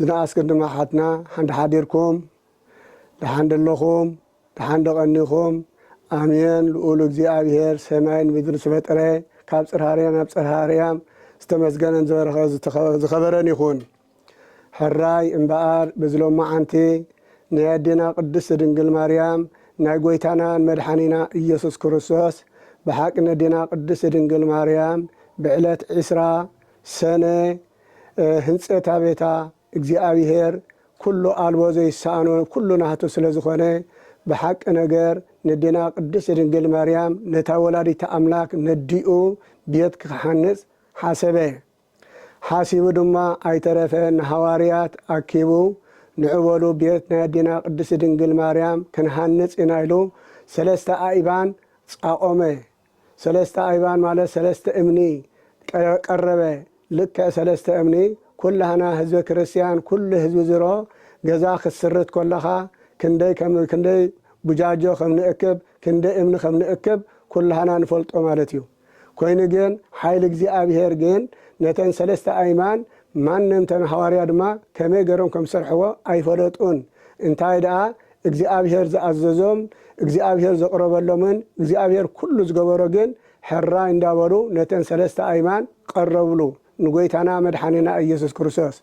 ዝነኣስክን ድማ ኣሓትና ሓንዳ ሓዲርኩም ደሓን ደለኹም ደሓን ዶ ቀኒኹም ኣሜን ልኡል እግዚኣብሔር ሰማይን ምድርን ዝፈጠረ ካብ ጽርሃ ኣርያም ናብ ጽርሃ ኣርያም ዝተመስገነን ዝበረኸ ዝኸበረን ይኹን ሕራይ እምበኣር በዚ ሎማዓንቲ ናይ ኣዴና ቅድስት ድንግል ማርያም ናይ ጎይታናን መድሓኒና ኢየሱስ ክርስቶስ ብሓቂ ነዴና ቅድስት ድንግል ማርያም ብዕለት ዕስራ ሰነ ህንጸት ኣቤታ እግዚኣብሔር ኩሉ ኣልቦ ዘይሰኣኖ ኩሉ ናህቱ ስለ ዝኾነ ብሓቂ ነገር ነዴና ቅድስት ድንግል ማርያም ነታ ወላዲተ ኣምላክ ነዲኡ ቤት ክሓንጽ ሓሰበ ሓሲቡ ድማ ኣይተረፈ ንሃዋርያት ኣኪቡ ንዑ በሉ ቤት ናይ ኣዴና ቅድስት ድንግል ማርያም ክንሃንጽ ኢና ኢሉ ሰለስተ ኣእባን ጻቆመ ሰለስተ ኣይባን ማለት ሰለስተ እምኒ ቀረበ ልክዕ ሰለስተ እምኒ ኩላህና ህዝበ ክርስትያን ኩሉ ህዝቢ ዝሮ ገዛ ክትስርት ኮለኻ ክንደይ ከም ክንደይ ቡጃጆ ከም ንእክብ ክንደይ እምኒ ከም ንእክብ ኩላህና ንፈልጦ ማለት እዩ ኮይኑ ግን ሓይሊ እግዚኣብሄር ግን ነተን ሰለስተ ኣይማን ማንም ተን ሃዋርያ ድማ ከመይ ገሮም ከም ዝሰርሕዎ ኣይፈለጡን እንታይ ደኣ እግዚኣብሔር ዝኣዘዞም እግዚኣብሔር ዘቕረበሎምን እግዚኣብሔር ኩሉ ዝገበሮ ግን ሕራይ እንዳበሉ ነተን ሰለስተ ኣይማን ቐረብሉ ንጎይታና መድሓኒና ኢየሱስ ክርስቶስ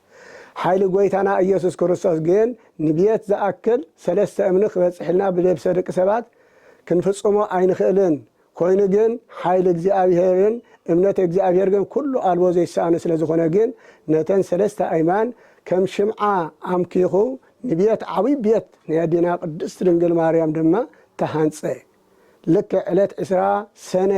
ሓይሊ ጎይታና ኢየሱስ ክርስቶስ ግን ንብየት ዝኣክል ሰለስተ እምኒ ክበፅሕልና ብደብሰ ደቂ ሰባት ክንፍፅሞ ኣይንኽእልን ኮይኑ ግን ሓይሊ እግዚኣብሄርን እምነት እግዚኣብሄር ግን ኩሉ ኣልቦ ዘይሰኣኖ ስለ ዝኾነ ግን ነተን ሰለስተ ኣይማን ከም ሽምዓ ኣምኪኹ ንቤት ዓብይ ቤት ናይ ኣዴና ቅድስት ድንግል ማርያም ድማ ተሃንጸ ልክዕ ዕለት ዕስራ ሰነ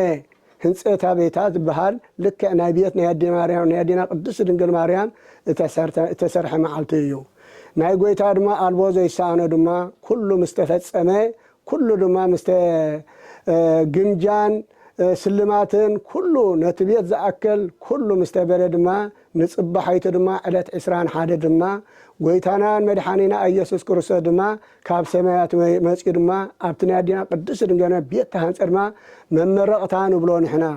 ህንጸታ ቤታ ዝበሃል ልክዕ ናይ ቤት ናይ ኣዴ ማርያም ናይ ኣዴና ቅድስት ድንግል ማርያም እተሰርተ እተሰርሐ መዓልቲ እዩ ናይ ጎይታ ድማ ኣልቦ ዘይሰኣኖ ድማ ኩሉ ምስ ተፈጸመ ኩሉ ድማ ምስተ ግምጃን ስልማትን ኩሉ ነቲ ቤት ዝኣክል ኩሉ ምስ ተገደ ድማ ንጽባሒቱ ድማ ዕለት ዕስራን ሓደ ድማ ጎይታናን መድሓኒና ኣየሱስ ክርስቶስ ድማ ካብ ሰማያት መጽዩ ድማ ኣብቲ ናይ ኣዴና ቅድስት ድንገነ ቤት ተሃንጸ ድማ መመረቕታ ንብሎ ንሕና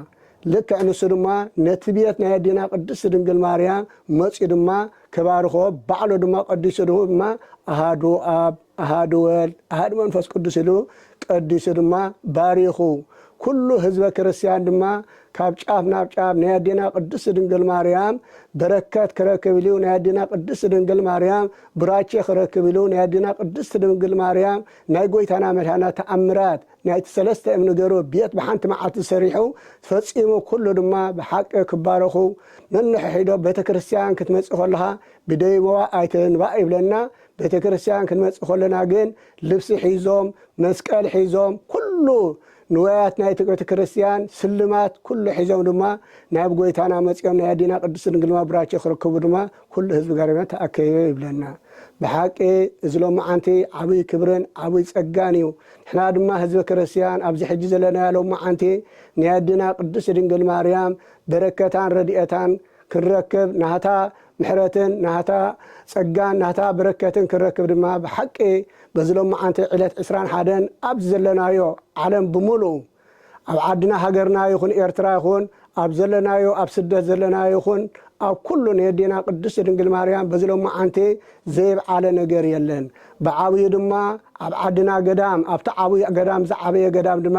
ልክዕ ንሱ ድማ ነቲ ቤት ናይ ኣዴና ቅድስት ድንግል ማርያም መጽዩ ድማ ክባርኾ ባዕሉ ድማ ቀዲሱ ድማ ኣሃዱ ኣብ ኣሃዱ ወልድ ኣሃዱ መንፈስ ቅዱስ ኢሉ ቀዲሱ ድማ ባሪኹ። ኩሉ ህዝበ ክርስቲያን ድማ ካብ ጫፍ ናብ ጫፍ ናይ ኣዴና ቅድስት ድንግል ማርያም በረከት ክረክብ ኢሉ ናይ ኣዴና ቅድስት ድንግል ማርያም ቡራቼ ክረክብ ኢሉ ናይ ኣዴና ቅድስት ድንግል ማርያም ናይ ጎይታና መድኃኒና ተኣምራት ናይቲ ሰለስተ እም ንገሩ ቤት ብሓንቲ መዓልቲ ሰሪሑ ፈጺሙ ኩሉ ድማ ብሓቂ ክባረኹ ነንሕሒዶ ቤተ ክርስቲያን ክትመጺ ከለኻ ብደይበዋ ኣይትንባእ ይብለና ቤተ ክርስቲያን ክንመጽእ ከሎና ግን ልብሲ ሒዞም መስቀል ሒዞም ኩሉ ንዋያት ናይቲ ቤተ ክርስቲያን ስልማት ኩሉ ሒዞም ድማ ናብ ጎይታና መጺኦም ናይ ኣዴና ቅድስት ድንግል ማብራቸ ክርከቡ ድማ ኩሉ ህዝቢ ገረመ ተኣከበ ይብለና። ብሓቂ እዚ ሎማዓንቲ ዓብይ ክብርን ዓብይ ጸጋን እዩ። ንሕና ድማ ህዝበ ክርስቲያን ኣብዚ ሕጂ ዘለናዮ ሎማዓንቲ ናይ ኣዴና ቅድስት ድንግል ማርያም በረከታን ረድኤታን ክንረክብ፣ ናታ ምሕረትን ናታ ጸጋን ናታ በረከትን ክንረክብ ድማ ብሓቂ በዚ ሎማዓንቲ ዕለት ዕስራን ሓደን ኣብዚ ዘለናዮ ዓለም ብምሉኡ ኣብ ዓድና ሃገርና ይኹን ኤርትራ ይኹን ኣብ ዘለናዮ ኣብ ስደት ዘለና ይኹን ኣብ ኩሉ ንየዴና ቅድስቲ ድንግል ማርያም በዚ ሎማዓንቲ ዘይብዓለ ነገር የለን ብዓብዩ ድማ ኣብ ዓድና ገዳም ኣብቲ ዓብዩ ገዳም ዝዓበየ ገዳም ድማ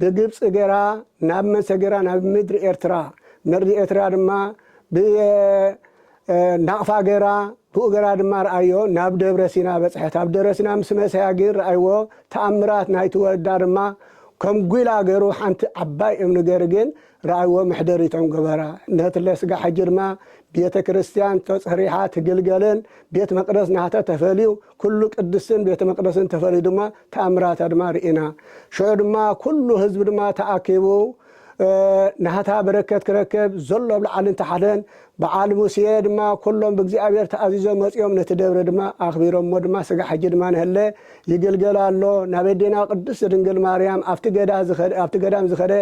ብግብጺ ገራ ናብ መሰገራ ናብ ምድሪ ኤርትራ ምርዲ ኤርትራ ድማ ብየ ናቕፋ ገራ ብኡ ገራ ድማ ርኣዮ ናብ ደብረ ሲና በጽሐት ኣብ ደብረ ሲና ምስ መሰያ ግን ርኣይዎ ተኣምራት ናይቲ ወዳ ድማ ከም ጒላ ገሩ ሓንቲ ዓባይ እምኒ ገር ግን ራእይዎ ምሕደር እቶም ገበራ ነቲ ለስጋ ሕጂ ድማ ቤተ ክርስቲያን ተጽሪሓ ትግልገልን ቤት መቅደስ ናህተ ተፈልዩ ኩሉ ቅድስትን ቤተ መቅደስን ተፈልዩ ድማ ተኣምራታ ድማ ርኢና ሽዑ ድማ ኩሉ ህዝቢ ድማ ተኣኪቡ ናህታ በረከት ክረክብ ዘሎ ኣብ ላዓልን ታሕትን በዓል ሙሴ ድማ ኩሎም ብእግዚኣብሔር ተኣዚዞም መጺኦም ነቲ ደብረ ድማ ኣክቢሮሞ ድማ ስጋ ሕጂ ድማ ንህለ ይግልገል ኣሎ ናብ ኣዴና ቅድስት ድንግል ማርያም ኣብቲ ገዳ ዝከደ ኣብቲ ገዳም ዝከደ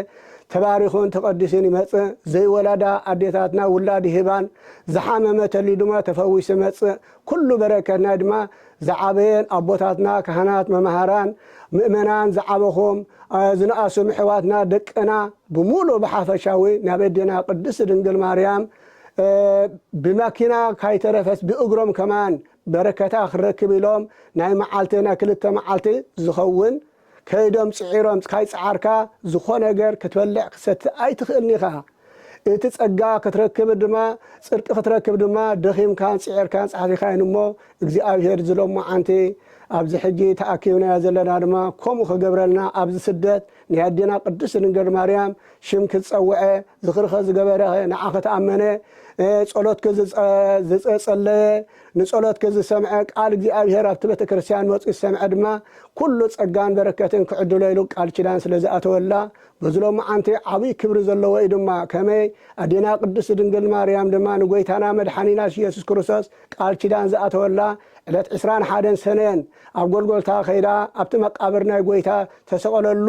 ተባሪኹን ተቀዲሱን ይመጽእ ዘይወላዳ ኣዴታትና ውላድ ይህባን ዝሓመመ ተልዩ ድማ ተፈዊሱ ይመጽእ ኩሉ በረከት ናይ ድማ ዝዓበየን ኣቦታትና ካህናት መማህራን ምእመናን ዝዓበኹም ዝነኣሱም ኣሕዋትና ደቅና ብሙሉእ ብሓፈሻዊ ናብ ኣዴና ቅድስት ድንግል ማርያም ብማኪና ካይተረፈስ ብእግሮም ከማን በረከታ ክንረክብ ኢሎም ናይ መዓልቲ ናይ ክልተ መዓልቲ ዝኸውን ከይዶም ጽዒሮም ካይጸዓርካ ዝኾነ ነገር ክትበልዕ ክትሰቲ ኣይትኽእልን ኢኻ። እቲ ጸጋ ክትረክብ ድማ ጽድቂ ክትረክብ ድማ ደኺምካን ጽዒርካን ጸሓፊካ እዩን እሞ እግዚኣብሄር እዚ ሎማዓንቲ ኣብዚ ሕጂ ተኣኪብናዮ ዘለና ድማ ከምኡ ክገብረልና ኣብዚ ስደት ናይ ኣዴና ቅድስት ድንግል ማርያም ሽም ክትጸውዐ ዝኽርኸ ዝገበረ ንዓኺ ተኣመነ፣ ጸሎትኪ ዝጸለየ ንጸሎትኪ ዝሰምዐ፣ ቃል እግዚኣብሄር ኣብቲ ቤተ ክርስቲያን መጹ ዝሰምዐ ድማ ኩሉ ጸጋን በረከትን ክዕድሎ ኢሉ ቃል ኪዳን ስለ ዝኣተወላ በዚ ሎምዓንቲ ዓብይ ክብሪ ዘለዎ እዩ ድማ ከመይ ኣዴና ቅድስት ድንግል ማርያም ድማ ንጎይታና መድሓኒና ኢየሱስ ክርስቶስ ቃል ኪዳን ዝኣተወላ ዕለት ዕስራን ሓደን ሰነን ኣብ ጎልጎልታ ከይዳ ኣብቲ መቃብር ናይ ጎይታ ተሰቀለሉ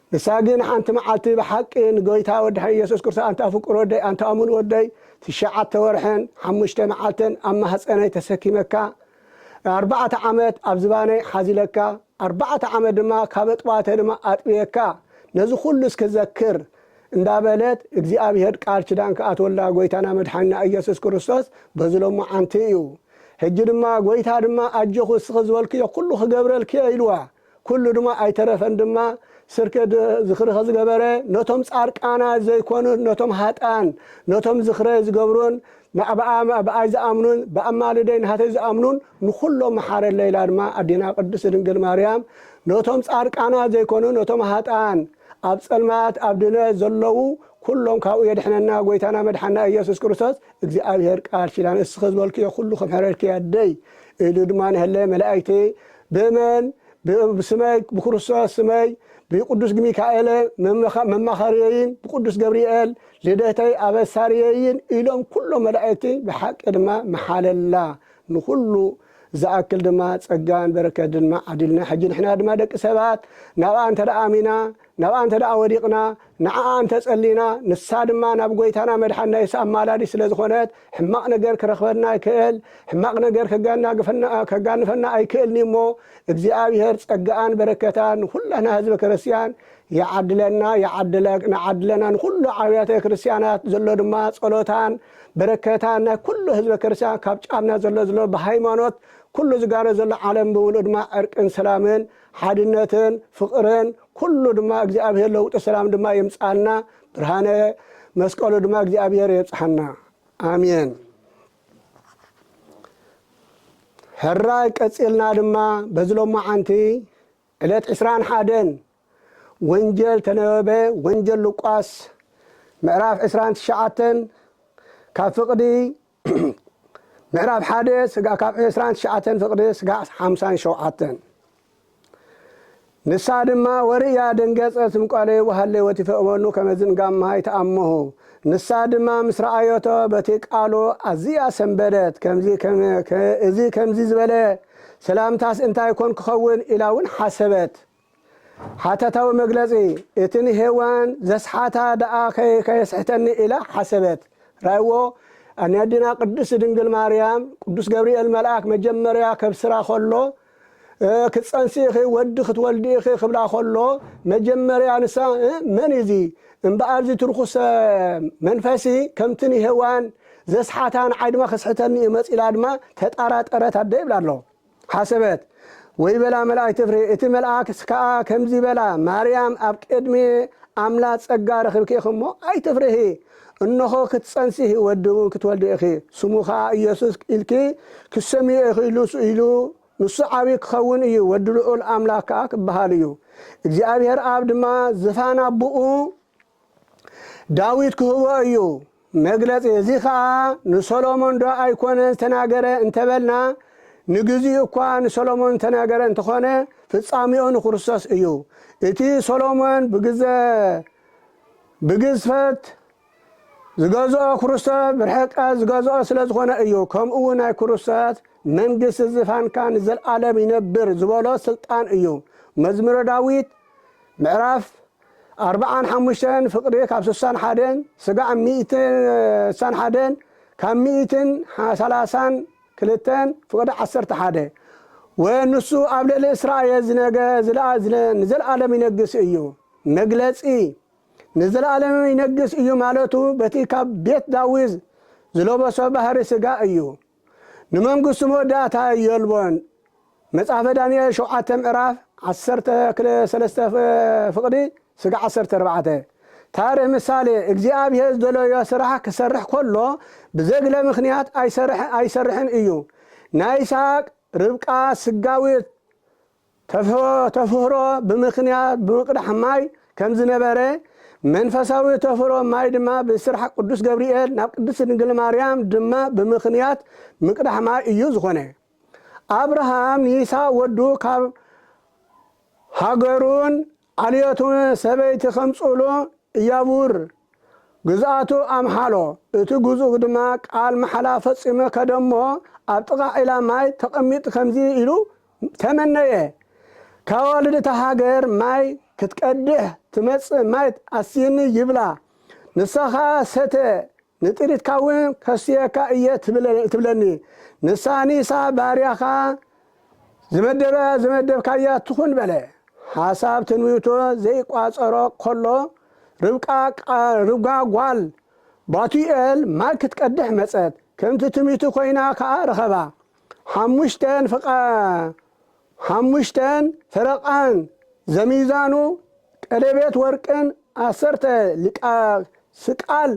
ንሳ ግን ሓንቲ መዓልቲ ብሓቂ ንጎይታ ወድሐን ኢየሱስ ክርስቶስ ኣንታ ፍቁር ወደይ ኣንታ እሙን ወደይ ትሽዓተ ወርሕን ሓሙሽተ መዓልትን ኣብ ማህጸነይ ተሰኪመካ ኣርባዕተ ዓመት ኣብ ዝባነይ ሓዚለካ ኣርባዕተ ዓመት ድማ ካብ ኣጥባተ ድማ ኣጥብየካ ነዚ ኩሉ እስኪ ዘክር እንዳበለት እግዚኣብሄር ቃል ኪዳን ክኣትወላ ጎይታና መድሓኒና ኢየሱስ ክርስቶስ በዚ ሎማዓንቲ እዩ ሕጂ ድማ ጎይታ ድማ ኣጆኹ እስኺ ዝበልክዮ ኩሉ ክገብረልኪ እየ ኢልዋ ኩሉ ድማ ኣይተረፈን ድማ ስርክ ዝኽሪ ከዝገበረ ነቶም ጻርቃናት ዘይኮኑን ነቶም ሃጥኣን ነቶም ዝኽረ ዝገብሩን ናብኣ ብኣይ ዝኣምኑን ብኣማልደይ ናህተይ ዝኣምኑን ንኹሎም መሓረለይ ኢላ ድማ ኣዴና ቅድስት ድንግል ማርያም ነቶም ጻርቃናት ዘይኮኑን ነቶም ሃጥኣን ኣብ ጸልማት ኣብ ድነት ዘለዉ ኩሎም ካብኡ የድሕነና ጎይታና መድሓና ኢየሱስ ክርስቶስ እግዚኣብሔር ቃል ኪዳን እስኺ ዝበልክዮ ኩሉ ክምሕረልኪ ኣደይ ኢሉ ድማ ንሀለየ መላእክቲ ብእመን ብስመይ ብክርስቶስ ስመይ ብቅዱስ ግሚካኤለ መማኸርየይን ብቅዱስ ገብርኤል ልደተይ ኣበሳርየይን ኢሎም ኩሎም መላእክቲ ብሓቂ ድማ ምሓለላ ንኹሉ ዝኣክል ድማ ጸጋን በረከት ድማ ዓዲልና ሕጂ ንሕና ድማ ደቂ ሰባት ናብኣ እንተ ኣሚና ናብኣ እንተ ደኣ ወዲቕና፣ ንዓኣ እንተ ጸሊና፣ ንሳ ድማ ናብ ጐይታና መድሓንና የሱስ ኣማላዲት ስለ ዝኾነት፣ ሕማቕ ነገር ክረኽበና ይክእል፣ ሕማቕ ነገር ከጋንፈና ኣይክእልን'ዩ እሞ፣ እግዚኣብሄር ጸጋኣን በረከታን ንኹላትና ህዝበ ክርስቲያን ይዓድለና ይዓድለና ንኹሉ ዓብያተ ክርስቲያናት ዘሎ ድማ ጸሎታን በረከታን ናይ ኩሉ ህዝበ ክርስቲያን ካብ ጫፍና ዘሎ ዘሎ ብሃይማኖት ኩሉ ዝጋነ ዘሎ ዓለም ብምሉኡ ድማ ዕርቅን ሰላምን ሓድነትን ፍቅርን ኩሉ ድማ እግዚኣብሔር ለውጢ ሰላም ድማ የምፅኣልና ብርሃነ መስቀሉ ድማ እግዚኣብሔር የብፅሓና ኣሜን ሕራይ ቀፂልና ድማ በዚ ሎማዓንቲ ዕለት ዕስራን ሓደን ወንጀል ተነበበ ወንጀል ሉቃስ ምዕራፍ ዕስራን ትሽዓተን ካብ ፍቅዲ ምዕራፍ ሓደ ስጋ ካብ ዕስራን ትሽዓተን ፍቅዲ ስጋዕ ሓምሳን ሸውዓተን ንሳ ድማ ወርእያ ደንገጸት ምቋለይ ወሃለወት ይፈእመኑ ከመዝን ጋማሃ ይተኣመሁ ንሳ ድማ ምስ ረኣዮቶ በቲ ቃሉ ኣዝያ ሰንበደት ከምዚ ከም- ከ- እዚ ከምዚ ዝበለ ሰላምታስ እንታይ ኮን ክኸውን ኢላ እውን ሓሰበት ሓተታዊ መግለጺ፣ እቲ ንሄዋን ዘስሓታ ደኣኸ ከየስሕተኒ ኢላ ሓሰበት። ርኣይዎ፣ ን ኣዴና ቅድስት ድንግል ማርያም፣ ቅዱስ ገብርኤል መልኣክ መጀመርያ ከብስራ ከሎ፣ ክትጸንሲ ኢኺ፣ ወዲ ክትወልዲ ኢኺ ክብላ ከሎ፣ መጀመርያ ንሳ እ መን እዩ እዚ? እምበኣር እዚ እቲ ርኹሰ መንፈሲ ከምቲ ንሄዋን ዘስሓታ ንዓይ ድማ ከስሕተኒ እዩ መጺኡ ኢላ ድማ ተጣራጠረት ኣደ ይብላ ኣሎ። ሓሰበት፣ ወይ በላ መላእክት ፍሬ፣ እቲ መልኣክ ከኣ ከምዚ በላ፣ ማርያም ኣብ ቅድሚ ኣምላ ጸጋ ረኽብኪ ኢኺ እሞ ኣይትፍርሂ፣ እንሆ ክትጸንሲሂ ወዲ እውን ክትወልዲ ኢኺ፣ ስሙ ከኣ ኢየሱስ ኢልኪ ክትሰምይዮ ኢኺ ኢሉ ንሱ ዓብዪ ክኸውን እዩ፣ ወዲ ልዑል ኣምላክ ከኣ ክበሃል እዩ፣ እግዚኣብሔር ኣብ ድማ ዝፋን ኣቦኡ ዳዊት ክህቦ እዩ መግለጺ እዚ ከኣ ንሶሎሞን ዶ ኣይኮነን ዝተናገረ እንተበልና ንግዚኡ እኳ ንሶሎሞን ዝተናገረ እንተኾነ ፍጻሜኡ ንክርስቶስ እዩ እቲ ሶሎሞን ብግዘ ብግዝፈት ዝገዝኦ ክርስቶስ ብርሕቀት ዝገዝኦ ስለ ዝኾነ እዩ ከምኡውን ናይ ክርስቶስ መንግስቲ ዝፋንካ ንዘልኣለም ይነብር ዝበሎ ስልጣን እዩ መዝሙረ ዳዊት ምዕራፍ ኣርብዓን ሓሙሽተን ፍቅሪ ካብ ስሳን ሓደን ስጋዕ ሚእትን ስሳን ሓደን ካብ ሚእትን ሰላሳን ክልተን ፍቅሪ ዓሰርተ ሓደ ወን ንሱ ኣብ ልዕሊ እስራኤል ዝነገ ንዘልኣለም ይነግስ እዩ መግለጺ ንዘልኣለም ይነግስ እዩ ማለቱ በቲ ካብ ቤት ዳዊዝ ዝለበሶ ባህሪ ስጋ እዩ ንመንግስቱ መወዳእታ የልቦን መጽሐፈ ዳንኤል ሸውዓተ ምዕራፍ ዓሰርተ ክለ ሰለስተ ፍቅዲ ስጋ ዓሰርተ ኣርባዕተ ታርህ ምሳሌ እግዚኣብሔር ዝደለዮ ስራሕ ክሰርሕ ከሎ ብዘግለ ምክንያት ኣይሰርሕን እዩ ናይ ይስሃቅ ርብቃ ስጋዊት ተፍሮ ብምኽንያት ብምቕዳሕ ማይ ከም ዝነበረ፣ መንፈሳዊ ተፍሮ ማይ ድማ ብስራሕ ቅዱስ ገብርኤል ናብ ቅድስት ድንግል ማርያም ድማ ብምኽንያት ምቅዳሕ ማይ እዩ ዝኾነ። ኣብርሃም ንይስሃቅ ወዱ ካብ ሃገሩን ኣልዮቱ ሰበይቲ ከምጽእሉ እያቡር ግዝኣቱ ኣምሓሎ፣ እቲ ግዙእ ድማ ቃል ማሕላ ፈጺመ ከደሞ ኣብ ጥቓ ዒላ ማይ ተቐሚጥ ከምዚ ኢሉ ተመነየ፣ ከዋልድ እታ ሃገር ማይ ክትቀድሕ ትመጽእ ማይ ኣስይኒ ይብላ፣ ንሳ ኸኣ ሰተ ንጥሪትካ እውን ከስትየካ እየ ትብለኒ፣ ንሳ ንኢሳው ባርያኻ ዝመደበያ ዝመደብካያ ትኹን በለ። ሓሳብ ትንቢቱ ዘይቋጸሮ ከሎ፣ ርብቃ ርጓ ጓል ባቱኤል ማይ ክትቀድሕ መጸት፣ ከምቲ ትንቢቱ ኮይና ከኣ ረኸባ። ሓሙሽተ ሓሙሽተን ፈረቓን ዘሚዛኑ ቀሌቤት ወርቅን ዓሰርተ ሊቃ ስቃል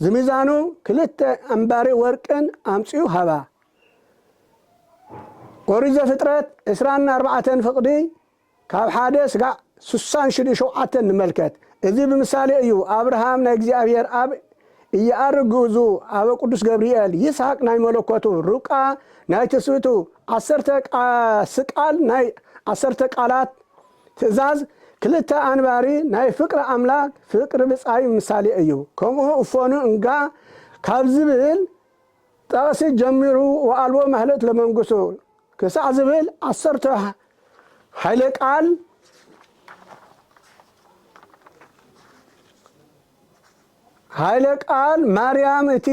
ዝሚዛኑ ክልተ ኣምባሪ ወርቅን ኣምጽኡ ሃባ። ኦሪት ዘፍጥረት ዕስራን ኣርባዕተን ፍቕዲ ካብ ሓደ ስጋዕ ስሳን ሽዱ ሸውዓተን ንመልከት። እዚ ብምሳሌ እዩ ኣብርሃም ናይ እግዚኣብሔር ኣብ እየኣርግ ግእዙ ኣበ ቅዱስ ገብርኤል ይስሐቅ ናይ መለኮቱ ርብቃ ናይ ትስብእቱ ዓሰርተ ስቃል ናይ ዓሰርተ ቃላት ትእዛዝ ክልተ ኣንባሪ ናይ ፍቅሪ ኣምላክ ፍቅሪ ብጻይ ምሳሌ እዩ ከምኡ እፎኑ እንጋ ካብ ዝብል ጠቅሲ ጀሚሩ ወኣልቦ ማህለእት ለመንግሱ ክሳዕ ዝብል ዓሰርተ ኃይለ ቃል ሃይለ ቃል ማርያም እቲ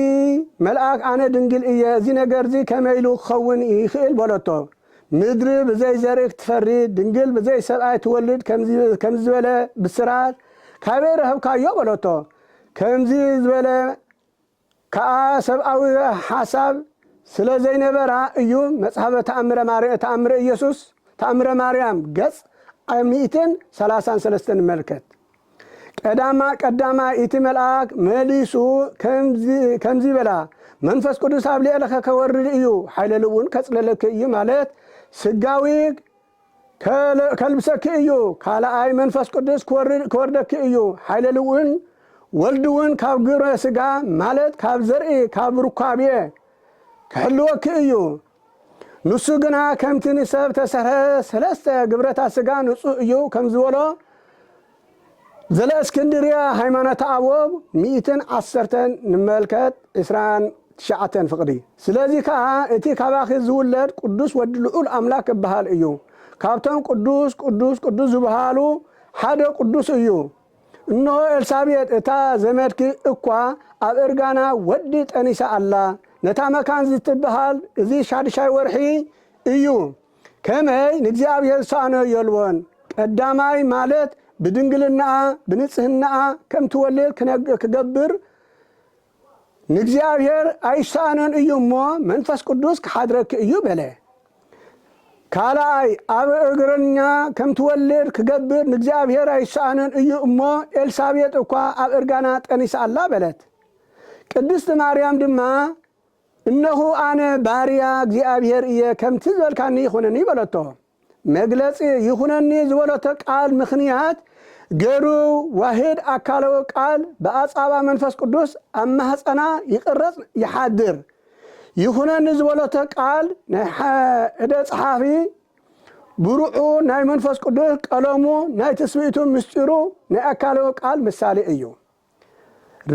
መልኣክ ኣነ ድንግል እየ እዚ ነገርዚ ከመይ ኢሉ ክከውን ይክእል በለቶ ምድሪ ብዘይ ዘርኢ ክትፈሪ ድንግል ብዘይ ሰብኣይ ትወልድ ከምዚ ዝበለ ብስራት ካበይ ረክብካዮ በለቶ ከምዚ ዝበለ ከኣ ሰብኣዊ ሓሳብ ስለ ዘይነበራ እዩ መጽሐፈ ተኣምረ ማር ተኣምረ ኢየሱስ ተኣምረ ማርያም ገጽ ዓ ሚእትን ሰላሳን ሰለስተን ንመልከት ቀዳማ ቀዳማይ እቲ መልኣክ መሊሱ ከምዚ ከምዚ በላ መንፈስ ቅዱስ ኣብ ልዕልከ ከወርድ እዩ ሓይለ ልብውን ከጽለለኪ እዩ ማለት ስጋዊ ከልብሰኪ እዩ፣ ካልኣይ መንፈስ ቅዱስ ክወርደኪ እዩ፣ ሓይለ ልውን ወልድውን ካብ ግብረ ስጋ ማለት ካብ ዘርኢ ካብ ሩካቤ ክሕልወኪ እዩ፣ ንሱ ግና ከምቲ ንሰብ ተሰርሐ ሰለስተ ግብረታት ስጋ ንጹህ እዩ ከምዝበሎ ዘለእስክንድርያ ሃይማኖተ ኣበው ሚእትን ዓሰርተን ንመልከት ዕስራን ትሽዓተን ፍቕዲ ስለዚ ከኣ እቲ ካባኺ ዝውለድ ቅዱስ ወዲ ልዑል ኣምላክ ክበሃል እዩ ካብቶም ቅዱስ ቅዱስ ቅዱስ ዝብሃሉ ሓደ ቅዱስ እዩ እንሆ ኤልሳቤጥ እታ ዘመድኪ እኳ ኣብ እርጋና ወዲ ጠኒሳ ኣላ ነታ መካን ዝትብሃል እዚ ሻድሻይ ወርሒ እዩ ከመይ ንእግዚኣብሔር ዝሰኣኖ የልቦን። ቀዳማይ ማለት ብድንግልናኣ ብንጽህናኣ ከም ትወልድ ክነግ ክገብር ንእግዚኣብሔር ኣይሰኣኖን እዩ እሞ መንፈስ ቅዱስ ክሓድረኪ እዩ በለ። ካልኣይ ኣብ እርግርኛ ከም ትወልድ ክገብር ንእግዚኣብሔር ኣይሰኣኖን እዩ እሞ ኤልሳቤጥ እኳ ኣብ እርጋና ጠኒሳ ኣላ በለት። ቅድስት ማርያም ድማ እነኹ ኣነ ባርያ እግዚኣብሄር እየ ከምቲ ዝበልካኒ ይኹነኒ በለቶ። መግለጺ ይኹነኒ ዝበለቶ ቃል ምኽንያት ገሩ ዋህድ ኣካለዊ ቃል ብኣጻባ መንፈስ ቅዱስ ኣብ ማህጸና ይቅረጽ ይሓድር። ይኹነኒ ዝበለቶ ቃል ናይ እደ ጸሓፊ ብሩዑ ናይ መንፈስ ቅዱስ ቀለሙ ናይ ትስብእቱ ምስጢሩ ናይ ኣካለዊ ቃል ምሳሌ እዩ።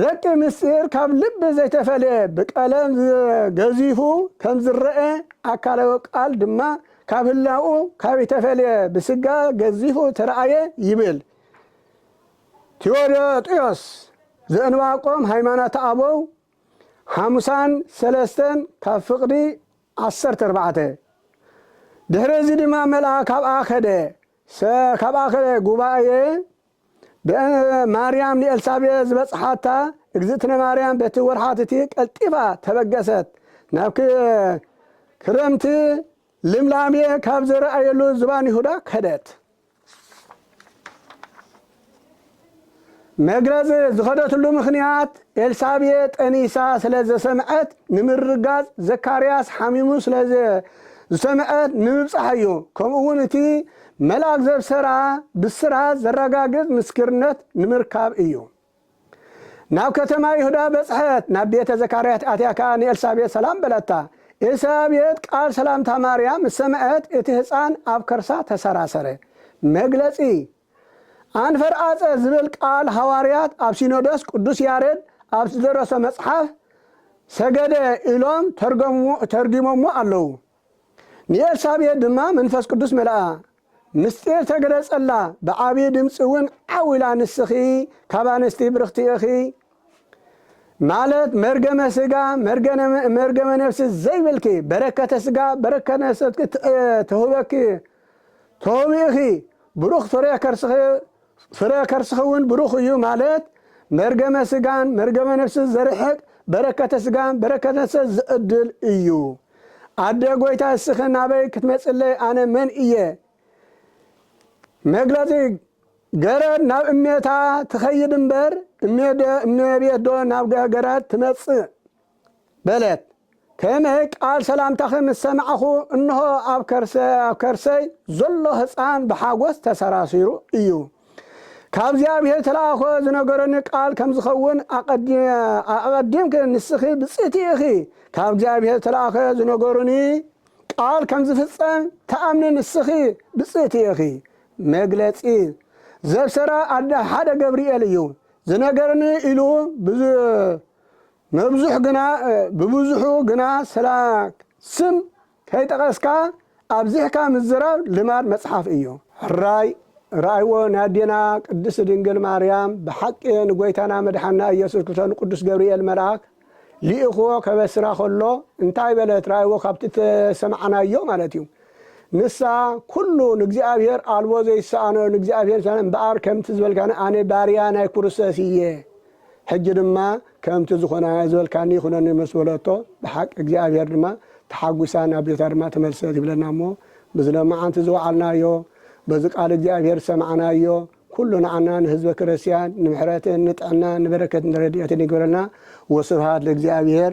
ረቂ ምስጢር ካብ ልቢ ዘይተፈልየ ብቀለም ገዚፉ ከም ዝረኤ ኣካላዊ ቃል ድማ ካብ ህላውኡ ካብ ተፈልየ ብስጋ ገዚፉ ተረኣየ ይብል ቲዎዶጥዮስ ዘእንባቆም ሃይማኖተ ኣበው ሓሙሳን ሰለስተን ካብ ፍቅዲ ዓሰርተ ኣርባዕተ ድሕሪ እዚ ድማ መልኣ ካብኣ ከደ ሰ ካብኣ ከደ ጉባኤ በእንተ ማርያም ንኤልሳቤጥ ዝበጽሓታ እግዝእትነ ማርያም በቲ ወርሓት እቲ ቀልጢፋ ተበገሰት፣ ናብ ክረምቲ ልምላሜ ካብ ዝረኣየሉ ዝባን ይሁዳ ከደት። መግረዝ ዝኸደትሉ ምኽንያት ኤልሳቤጥ ጠኒሳ ስለ ዘሰምዐት ንምርጋጽ ዘካርያስ ሓሚሙ ስለ ዝሰምዐት ንምብጻሕ እዩ። ከምኡውን እቲ መልኣክ ዘብሰራ ብስራት ዘረጋግጽ ምስክርነት ንምርካብ እዩ። ናብ ከተማ ይሁዳ በጽሐት፣ ናብ ቤተ ዘካርያት ኣትያ ከኣ ንኤልሳቤጥ ሰላም በለታ። ኤልሳቤጥ ቃል ሰላምታ ማርያም ምስ ሰምዐት እቲ ህጻን ኣብ ከርሳ ተሰራሰረ። መግለጺ ኣንፈርኣጸ ዝብል ቃል ሃዋርያት ኣብ ሲኖዶስ ቅዱስ ያሬድ ኣብ ዝደረሶ መጽሓፍ ሰገደ ኢሎም ተርጊሞሞ ኣለዉ። ንኤልሳቤጥ ድማ መንፈስ ቅዱስ መልኣ፣ ምሥጢር ተገለጸላ፣ ብዓቢይ ድምጺውን ዓው ኢላ ንስኺ ካብ ኣንስቲ ብርኽቲ ኢኺ፣ ማለት መርገመ ሥጋ መርገመ ነፍሲ ዘይብልኪ፣ በረከተ ሥጋ በረከተ ነፍሲ ትሁበኪ ትሁቢ ኢኺ፣ ብሩኽ ፍሬ ከርስኺ ፍረ ከርስኺውን ብሩኽ እዩ ማለት መርገመ ስጋን መርገመ ነፍስን ዘርሕቅ በረከተ ስጋን በረከተ ነፍሰን ዝዕድል እዩ ኣደ ጎይታ እስኺ ናበይ ክትመፅለይ ኣነ መን እየ መግለፂ ገረድ ናብ እሜታ ትኸይድ እምበር እሜቤት ዶ ናብ ገረድ ትመፅእ በለት። ተሜ ቃል ሰላምታኺ ምስ ሰማዕኹ እንሆ ኣብ ከርሰይ ዘሎ ህጻን ብሓጎስ ተሰራሲሩ እዩ። ካብ እግዚኣብሔር ዝተላእኮ ዝነገረኒ ቃል ከም ዝኸውን ኣቐዲምኪ ንስኺ ብጽእቲ ኢኺ ካብ እግዚኣብሔር ዝተላእከ ዝነገሩኒ ቃል ከም ዝፍጸም ትኣምኒ ንስኺ ብጽእቲ ኢኺ። መግለጺ ዘብሰራ ኣደ ሓደ ገብርኤል እዩ ዝነገርኒ ኢሉ መብዙሕ ግና ብብዙሑ ግና ስላ ስም ከይጠቐስካ ኣብዚሕካ ምዝራብ ልማድ መጽሓፍ እዩ። ሕራይ ርኣይዎ ናዴና ቅድስት ድንግል ማርያም ብሓቂ ንጎይታና መድሓና ኢየሱስ ክስቶ ንቅዱስ ገብርኤል መልኣክ ሊእክዎ ከበስራ ከሎ እንታይ በለት ርኣይዎ ካብቲ ተሰማዕናዮ ማለት እዩ ንሳ ኩሉ ንእግዚኣብሔር ኣልቦ ዘይሰኣኖ ንእግዚኣብሔር እምበኣር ከምቲ ዝበልካኒ ኣነ ባርያ ናይ ኩሩሰስ እየ ሕጂ ድማ ከምቲ ዝኾናዮ ዝበልካኒ ይኹነኒ ምስ በለቶ ብሓቂ እግዚኣብሄር ድማ ተሓጉሳ ናብ ቤታ ድማ ተመልሰት ይብለና እሞ በዚ ለማዓንቲ ዝወዓልናዮ በዚ ቃል እግዚኣብሄር ዝሰማዕናዮ ኩሉ ንዓና ንህዝበ ክረስቲያን ንምሕረትን ንጥዕናን ንበረከትን ረዲኤትን ይግበረልና ወስብሃት ለእግዚኣብሄር።